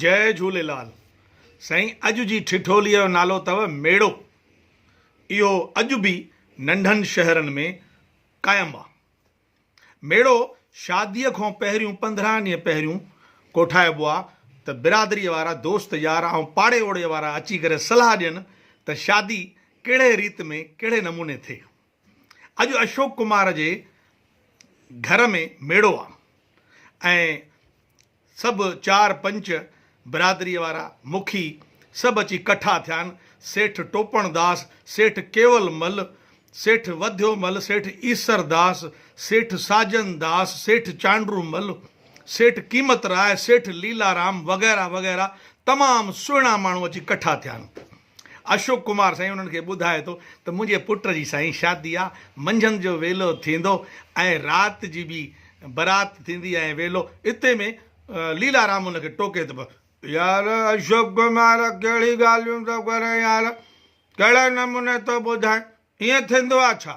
جئي جهوليلال سائين اڄ جي ٺٺولي جو نالو تئو ميڙو اهو اڄ به ننڍن شهرن ۾ قائم آ ميڙو شادي کان پهريون پندرهن ڏينهن پهريون ڪوٺائبو آ ته برادري وارا دوست يار ۽ پاڙي اوڙي وارا اچي ڪري صلاح ڏين ته شادي ڪهڙي ريت ۾ ڪهڙي نموني ٿئي اڄ اشوڪ ڪمار جي گهر ۾ ميڙو آ ۽ سڀ چار پنچ برادريء وارا مکي سڀ اچي ڪٺا ٿيان سيٺ ٽوپڻ داس، سيٺ ڪيول مل، سيٺ وڌيو مل، سيٺ ايسر داس، سيٺ ساجن داس، سيٺ چانڊرو مل، سيٺ قيمت راء، سيٺ ليلارام وغيره وغيره تمام سهڻا ماڻهو اچي ڪٺا ٿيان. اشوڪ ڪمار سائين انهن کي ٻڌائي ٿو ته منهنجي پٽ جي سائين شادي آ، منجهند جو ويلو ٿيندو ۽ رات جي به برات ٿيندي ۽ ويلو، اتي ۾ ليلا رام ان کي ٽوڪي ته يار اشوڪ ڪمار ڪهڙي ڳالهيون ٿو ڪرين يار، ڪهڙي نموني ٿو ٻڌائين، ائين ٿيندو آ ڇا؟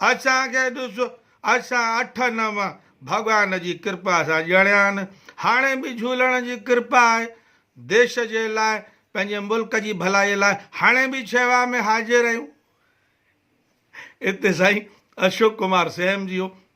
اسان کي ڏس، اسان اٺ نو ڀڳوان جي ڪرپا سان ڄڻيا آهن، هاڻي به جهولڻ جي ڪرپا آهي. ديش جي لاء، پنهنجي ملڪ جي ڀلائيء لاء هاڻي به شيوا ۾ حاضر آهيون. اتي سائين اشوڪ ڪمار سيم جيو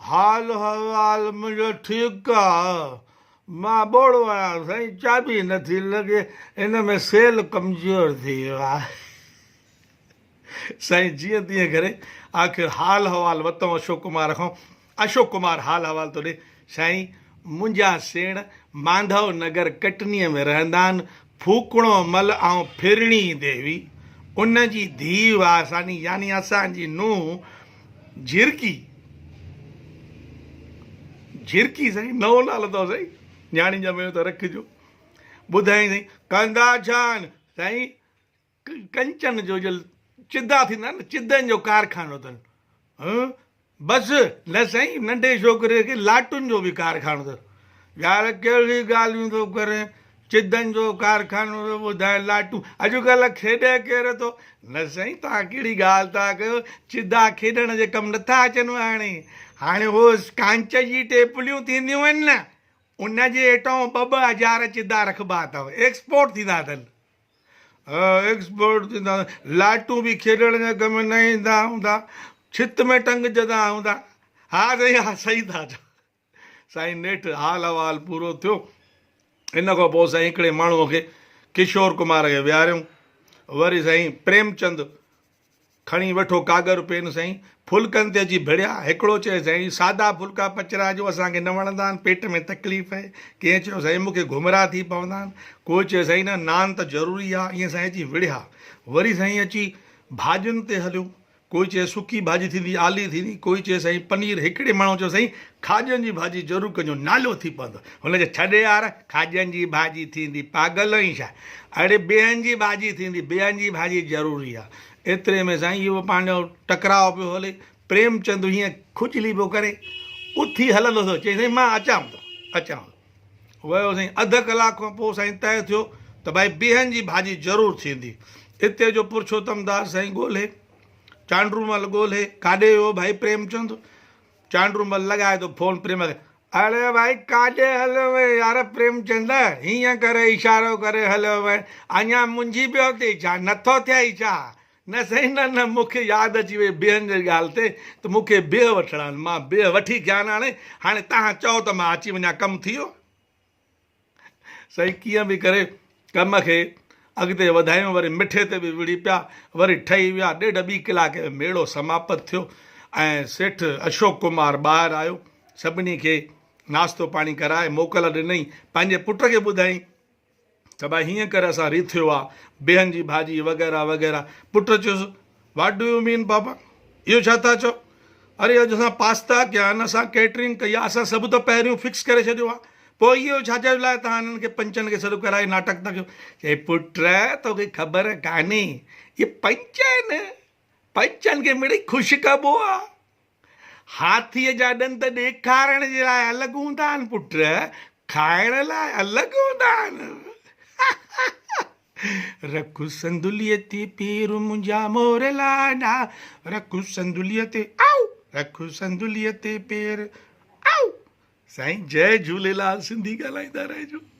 حال احوال منهنجو ٺيڪ آ. مان ٻوڙو آهيان سائين چاٻي نه ٿي لڳي ان ۾ سيل ڪمزور ٿي ويو آ. سائين جيئن تيئن ڪري آخر حال احوال وتئون اشوڪ ڪمار کان اشوڪ ڪمار حال احوال ٿو ڏي سائين منهنجا سيڻ مانڌو نگر ڪٽنيء ۾ رهندا آهن. ڦوڪڻو مل آئون ڦرڻي ديوي ان جي ڌيء واساني يعني اسان جي نونهن جهرڪي، جهرڪي سائين نئون نالو اٿو سائين نياڻي ڄميو ته رکجو، ٻڌائين سائين ڪندا ڇا آهن؟ سائين ڪنچن جو جل چدا ٿيندا آهن چدن جو ڪارخانو اٿن ھون بس نه سائين ننڍي ڇوڪري کي لاٽن جو به ڪارخانو اٿس يار ڪهڙي ڳالهيون ٿو ڪرين چدن جو ڪارخانو ٿو ٻڌائين لاٽون اڄڪلهه کيڏي ڪير ٿو نه سائين توهان ڪهڙي ڳالهه ٿا ڪيو چدا کيڏڻ جي ڪم نٿا اچن هاڻي هاڻي هو ڪانچ جي ٽيپليون ٿينديون آهن نه ان جي هيٺان ٻه ٻه هزار چدا رکبا اٿو ايڪسپورٽ ٿيندا اٿن ايڪسپورٽ ٿيندا لائٽون به کيڏڻ جي ڪم ۾ نه ايندا هوندا ڇت ۾ ٽنگجندا هوندا ها سائين ها صحيح ٿا چئو سائين نيٺ حال احوال پورو ٿيو ان کان پوء سائين هڪڙي ماڻهو کي ڪشور ڪمار کي ويهاريون وري سائين پريمچند کڻي وٺو ڪاڳر پين سائين. ڦلڪن تي اچي ڀڙيا. هڪڙو چيو سائين سادا ڦلڪا پچرا جو اسان کي نه وڻندا آهن پيٽ ۾ تڪليف اهي. ڪنهن چيو سائين مون کي گهمرا ٿي پوندا آهن. ڪو چيو سائين نه نان ته ضروري آهي ائين سائين اچي وڙهيا. وري سائين اچي ڀاڄين تي هليو. ڪو چيو سڪي ڀاڄي ٿيندي آلي ٿيندي ڪو چيو سائين پنير هڪڙي ماڻهو چيو سائين کاڄن جي ڀاڄي ضرور ڪجو نالو ٿي پوندو هن جو ڇڏ يار کاڄن جي ڀاڄي ٿيندي پاگل آهين ڇا اڙي بيهن جي ڀاڄي ٿيندي بيهن جي ڀاڄي ضروري آ ايتري ۾ سائين اهو پنهنجو ٽڪراء پيو هلي پريمچند هيئن کجلي پيو ڪري اٿي هلندو ٿيو چيائين سائين مان اچان ٿو اچان ٿو ويو سائين اڌ ڪلاڪ کان پوء سائين طئي ٿيو ته ڀائي بيهن جي ڀاڄي ضرور ٿيندي اتي جو پرشوتم داس سائين ڳولهي چانڊرومل ڳولهي ڪاڏي ويو ڀائي پريمچند چانڊرومل لڳائي ٿو فون پريم کي، اڙي ڀائي ڪاڏي هليو وئين يار پريمچند هيئن ڪري اشارو ڪري هليو وئين اڃا منجهي پيو ٿئي ڇا نٿو ٿئي ڇا؟ نه سائين نه نه مون کي ياد اچي وئي بيهن جي ڳالهه تي ته مون کي بيهه وٺڻا آهن مان بيهه وٺي ڪيان هاڻي هاڻي توهان چئو ته مان اچي وڃان ڪم ٿي ويو. سائين ڪيئن به ڪري ڪم کي اڳتي وڌايون وري مٺي تي به وڙهي پيا وري ٺهي ويا ڏيڍ ٻي ڪلاڪ ۾ ميڙو سماپت ٿيو ۽ سيٺ اشوڪ ڪمار ٻاهر آيو سڀني کي ناشتو پاڻي ڪرائي موڪل ڏنئي پنهنجي پٽ کي ٻڌائين ته ڀائي هيئن ڪري اسان ريٿيو آ بيهن جي ڀاڄي وغيره وغيره پٽ چيس واٽ ڊو يو مين پاپا اهو ڇا ٿا چئو اري اڄ اسان پاستا ڪيا آهن اسان ڪيٽرنگ ڪئي آهي اسان سڀ ته پهريون فڪس ڪري ڇڏيو آهي پوء اهو ڇا جي لاء توهان هنن کي پنچن کي سڏ ڪرائي ناٽڪ ٿا ڪيو چئي پٽ توکي خبر ڪانهي اهي پنچ آهن پنچن کي مڙئي خوش ڪبو آهي هاٿيء جا ڏند ڏيکارڻ جي لاء الڳ هوندا آهن پٽ، کائڻ لاء الڳ هوندا آهن. رک سندليء تي پير منهنجا مور لاڏا، رک سندليء تي آئو، رک سندليء تي پير آئو. سائين جئي جهوليلال سنڌي ڳالهائيندا رهجو.